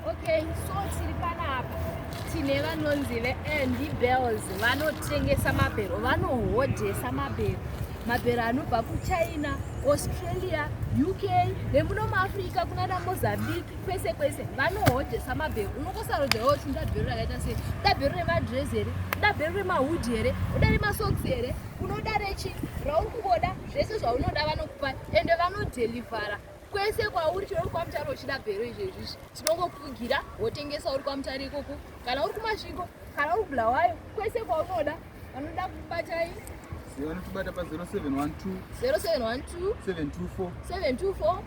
Okay, so tiri panapa tine vanonzi veandy bells vanotengesa mabhero vanohodhesa mabhero mabhero anobva kuchina australia uk nemuno muafrica kuna damozambique kwese kwese vanohodhesa mabhero unokosarodzerawo kuti nda bhero rakaita sei uda bhero remadress here uda bhero remahud here uda remasoks here unoda rechi rauri kungoda zvese zvaunoda vanokupa ende vanodelivhara kwese kwauri chero uri kwamutare uchida bhero izvezvizvi tinongokugira wotengesa uri kwamutare ikoko kana uri kumasviko kana uri bulawayo kwese kwaunoda vanoda kubatai vanotibata pa 0712 0712 724 724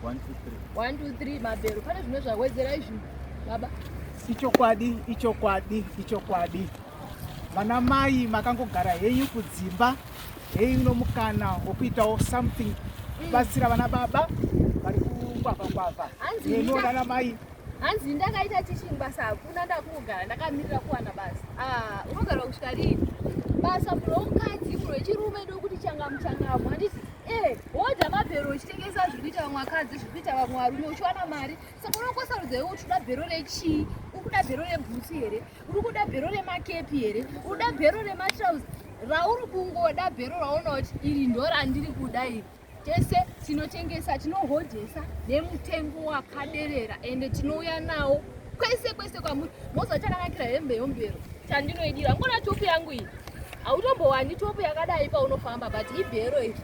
123 mabhero pane zvimwe zvawedzera izvi baba ichokwadi ichokwadi ichokwadi vana mai makangogara henyu kudzimba Hei uno mukana wokuitawo something kubatsira vana baba vari kungwavha ngwavha nenona namai hanzi ndakaita teaching basa hakuna ndakungogara ndakamirira kuwana basa ah, unogara kusvika rii basa muno womukadzi muno wechirume ndokuti changamu changamu handiti eh, woda mabhero uchitengesa zviri kuita vamwe vakadzi zviri kuita vamwe varume uchiwana mari Saka unokosa rudzi iwe uchida bhero rechii? Ukuda bhero rebhutsu here? Uri kuda bhero remakepi here? Uda bhero rematrouse? Rauri kungoda bhero raona kuti iri ndo randiri kuda iri. Tese tinotengesa tinohodhesa nemutengo wakaderera ende tinouya nawo kwese kwese kwamuri moziva chakanakira hembe yombero chandinoidira ngona topu yangu iyi hautombowani topu yakadai paunofamba but ibhero iri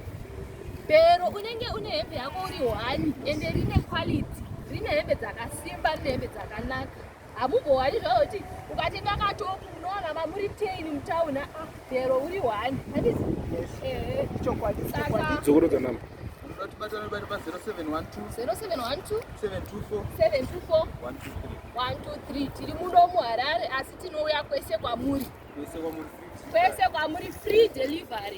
Pero unenge une hembe yako uri hwani ende rine quality, rine hembe dzakasimba, rine hembe dzakanaka. Hamumbohwani zvavo kuti ukatenga katopu unowana mamuri ten mutown a ah, pero uri hwani. Handizi? Eh. Chokwadi. Dzokorodza namba. Batana bari pa 0712 0712 724 724 123 tiri muno muHarare asi tinouya kwese kwamuri kwese kwamuri free delivery